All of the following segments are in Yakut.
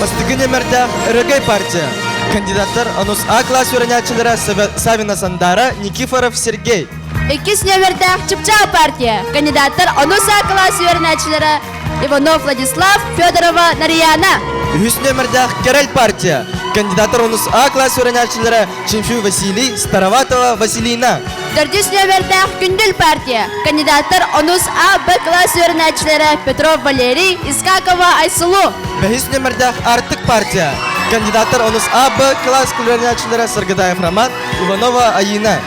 Бастыгын эмэрдээх өрөгөй партия. Кандидаттар анус А класс үөрэнээччилэрэ Савина Сандара, Никифоров Сергей. Иккис нөмірдәэх Чыпчаа партия. Кандидаттар анус А класс үөрэнээччилэрэ Иванов Владислав, Федорова Нарияна. Үһүс нөмірдәэх Керель партия. Кандидаттар анус А класс үөрэнээччилэрэ Чинфю Василий, Староватова Василина. Төрдүс нөмірдээх Күндүл партия кандидаттар онус А, Б класс үөрэнээччилэрэ Петров Валерий, Искакова Айсулу. Бэһис нөмірдээх Артык партия кандидаттар онус А, Б класс үөрэнээччилэрэ Саргыдаев Роман, Иванова Аина.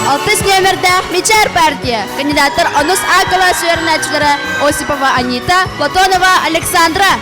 Алтыс нөмірдээх Мичар партия кандидаттар онус А класс үөрэнээччилэрэ Осипова Анита, Платонова Александра.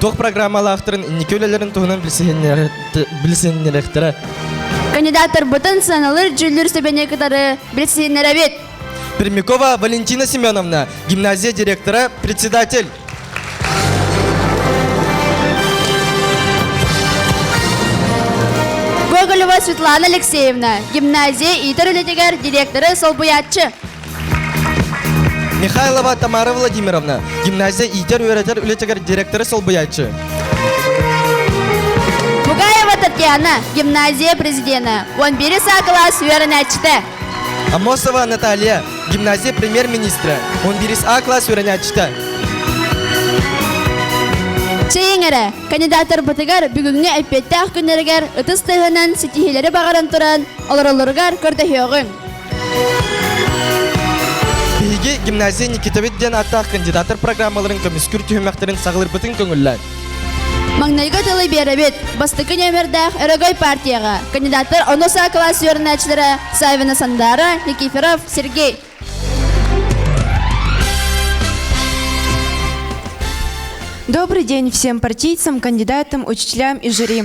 Туох программалаахтарын инники үлэлэрин туһунан билсиннэрэхтэрэ. Кандидаттарбытын саналыр дьүүллүүр сөбэни кытары билсиннэрэбит. Пермякова Валентина Семеновна, гимназия директора, председатель. Гоголева Светлана Алексеевна, гимназия иитэр үлэтигэр директоры солбуйааччы. Михайлова Тамара Владимировна, гимназия иитэр-үөрэтэр үлэтигэр директоры солбуйааччы. Мугаева Татьяна, гимназия президента, 11 А класс үөрэнээччитэ. Амосова Наталья, гимназия премьер-министрэ, 11 А класс үөрэнээччитэ. Чэйиҥэрэ, кандидаторбутугар бүгүҥҥү эппиэттээх күннэригэр ытыс тыаһынан ситиһиилэри баҕаран туран, олороллоругар көрдөһүөҕүҥ. Биһиги гимназия Никитабит диэн ааттаах кандидаттар программаларын көмүскүр түһүмэхтэрин саҕалырбытын көҥүллээн. Маҥнайгы тылы биэрэбит. Бастакы нөмердээх өрөгөй партияҕа. Кандидаттар ону саа класс үөрэнээччилэрэ Савина Сандара, Никифоров Сергей. Добрый день всем партийцам, кандидатам, учителям и жюри.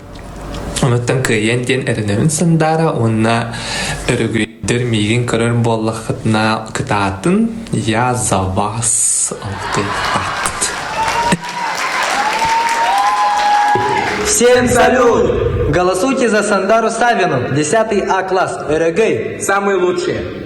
Онуттан кыайыан диэн эрэнэрин Сандаара уонна өрөгөйдөр миигин көрөр буоллаххытына кытаатын «Я за вас» алтыйбат. Всем салют! Голосуйте за Сандару Савину, 10 А класс, Өрөгөй. Самые лучшие.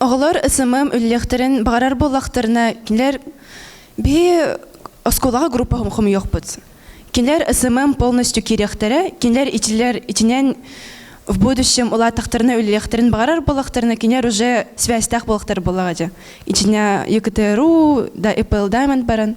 Оҕолор СММ үллэхтэрин баҕарар буоллахтарына, кинилэр биһи оскуолаҕа группа хомуйуохпут. Кинилэр СММ полностью киириэхтэрэ, кинилэр ичилэр ичинэн в будущем улаатахтарына үллэхтэрин баҕарар буоллахтарына, кинилэр уже связьтаах буоллахтар буоллаҕа дьэ. Ичиня ЕКТРУ да Apple Diamond баран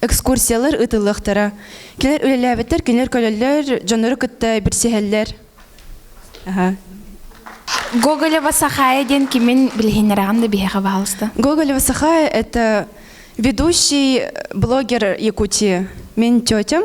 экскурсиялар ыытыллыахтара кинилэр үлэлээбэттэр кинилэр көлөллөр дьоннору кытта билсиһэллэр Гоголева Сахая диэн кимин билиһиннэрэҕин да биһиэхэ баалыста Гоголева Сахая это ведущий блогер Якутии мен тетям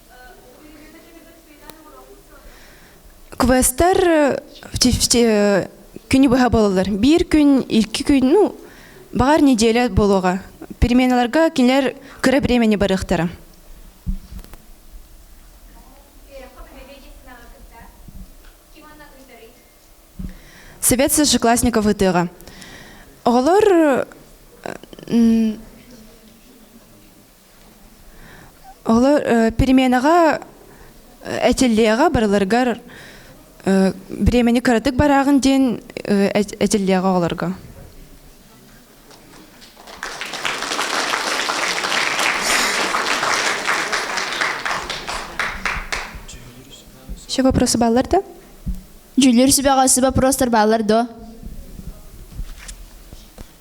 квестар күнү быһа бололор биир күн икки күн ну баҕар неделя болуоҕа переменаларга кинилэр кыра времени барыахтара Совет сошеклассников ытыга. Оголор Олор переменаҕа этиллиэҕэ барыларыгар бириэмэни кыратык барааҕын диэн этиллиэҕэ оҕолорго. Еще вопросы баллар да? Дьүүллүүр сүбэҕэ вопрос бааллар дуо?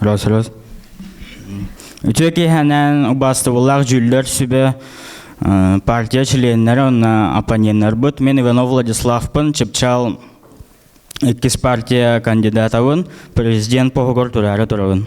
Рас, рас. Үтүө киэһэнэн убаастыбыллаах дьүүллэр сүбэ партия членнэрэ уонна оппоненнарбыт мен Иванов Владиславпын чыпчаал иккис партия кандидатабын президент поһугар тураары турабын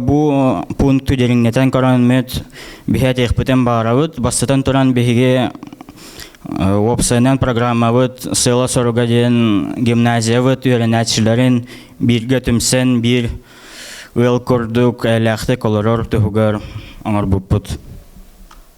Бу пункту дириҥнэтэн көрөн мүт биһи этиэхпитин баарабыт. Бастатан туран биһиги уопсайынан программабыт сыала-соруга диэн гимназиябыт үөрэнээччилэрин бииргэ түмсэн биир ыал курдук эйэлээхтик олорор туһугар оҥорбуппут.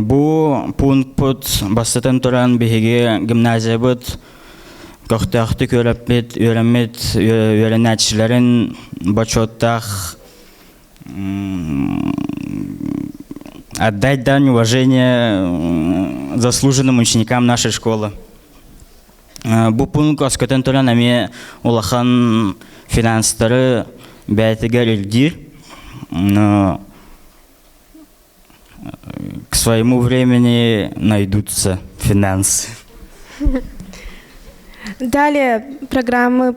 Бу пункпут бастатан туран биһиги гимназиябыт көхтөөхтүк үөрэппит үөрэммит үөрэнээччилэрин бочуоттаах отдай дань уважения заслуженным ученикам нашей школы Бу пункт көскөтөн туран эмиэ улахан финанстары бэйэтигэр илдиир к своему времени найдутся финансы. Далее программы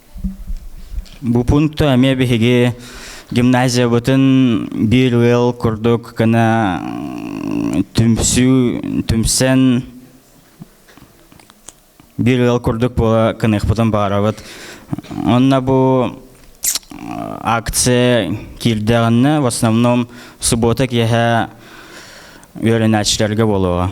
Бу пункту эмиэ биһиги гимназиябытын биир ыал курдук гына түмсүү түмсэн биир ыал курдук буола кыныахпытын баҕарабыт. Онно бу акция киирдэҕинэ в основном суббота киэһэ үөрэнээччилэргэ буолуоҕа.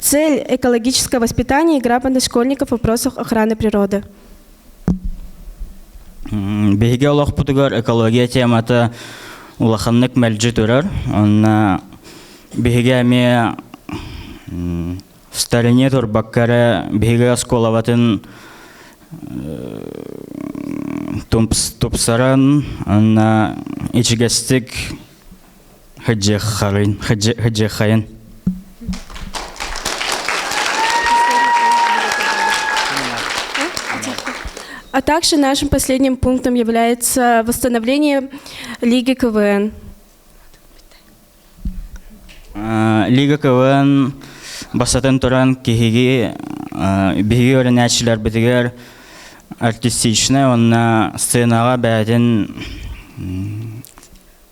Цель экологического воспитания и грамотность школьников в вопросах охраны природы. Биһиги олохпутугар экология темата улаханнык мэлдьи турар. Онно биһиги эмиэ в стороне турбакка эрэ биһиги оскуолабытын тупсаран, онно ичигэстик Хыдьыаххайын Хыдьыаххайын А также нашим последним пунктом является восстановление Лиги КВН. Лига КВН бастатан туран киһиги биһиги өрүнээччилэрбитигэр артистичнай уонна сценаҕа бээтин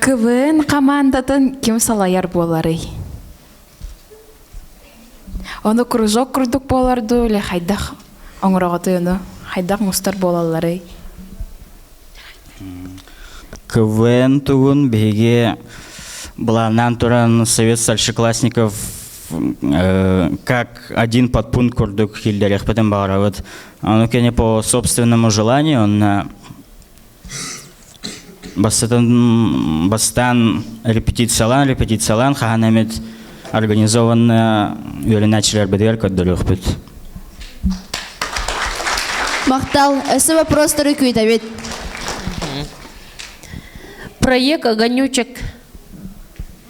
КВН командатын ким салайар буоларый? Оны кружок курдук боларду ле хайдах оңроготуну, хайдах мустар болаллары? КВН тугун биһиги былааннаан туран Совет старшеклассников как один подпункт курдук киллерехпетен барабыт. Ону кене по собственному желанию он бастатан бастаан репетициялаан репетициялаан хаһан эмит организованная үөрэнээччилэрбитигэр көрдөрүөхпүт Махтал. Эссе вопростары күүтэбит. Проект «Огонючек»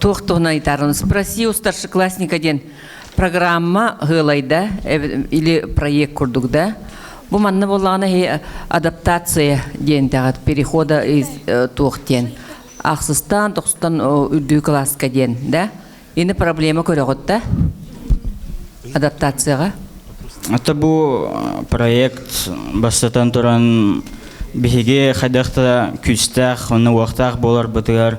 туох туһунан айтаарыны спроси у старшеклассника диэн программа хыылайда или проект курдук да бу манна боллаҕына хи адаптация диэн тэҕэт перехода из туох диэн ахсыстан тохстан үрдүү класска диэн да ини проблема көрөҕүтtä адаптацияға Ата бу проект бастатан туран биһиги хайдахта күстээх уонна уохтаах буолар бытыгар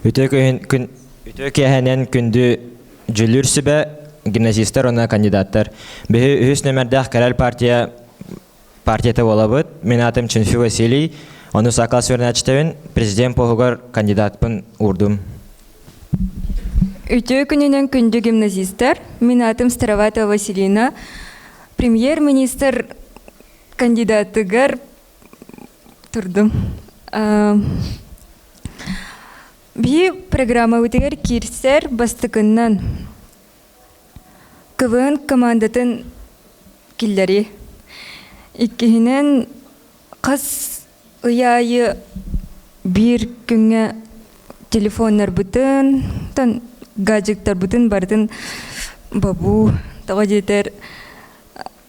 Үтүө киэһэнэн күндү дьүүллүүр сүбэ гимназистар уонна кандидаттар биһи үһүс нөмэрдээх кэлэр партия партията буолабыт мен атым Чинфи Василий ону сакал сүрүнээччитэбин президент поһугар кандидатпын уурдум Үтүө күнүнэн күндү гимназистар мен атым Староватова Василина премьер-министр кандидатыгар турдум биһи программабытыгар киирсэр бастакыннан квн командатын киллэрии иккиһинэн хас ый аайы биир күҥҥэ телефоннарбытын гаджеттарбытын барытын бобуу тоҕо диэтэр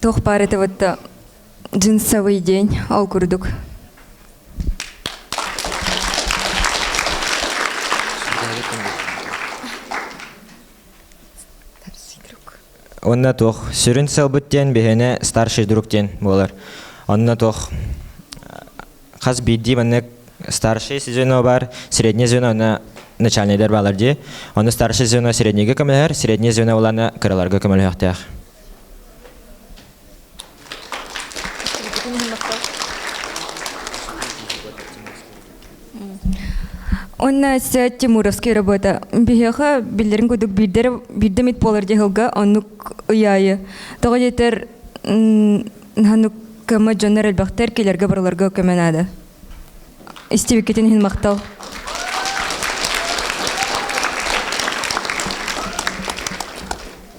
Туох баар этеватта джинсовый день ол курдук Онна туох сүрүн сылбыт диэн биһиэнэ старший друг диэн буолар. Онно туох хас биирдии маннык старший звено бар, среднее звено на начальнайдар баалар дии. Ону старший звено среднейге көмөлөһөр, среднее звено боланы кыраларга көмөлөһөхтөөх. Онна Ся Тимуровский работа. Биһиэхэ биллэрин кудук биирдэ мит буолар дьаһылга оннук ыйаайы. Тоҕо диэтэр ханук көмө дьоннор элбэхтэр келерге барыларга көмө наада. Истибиккитин хин мақтал.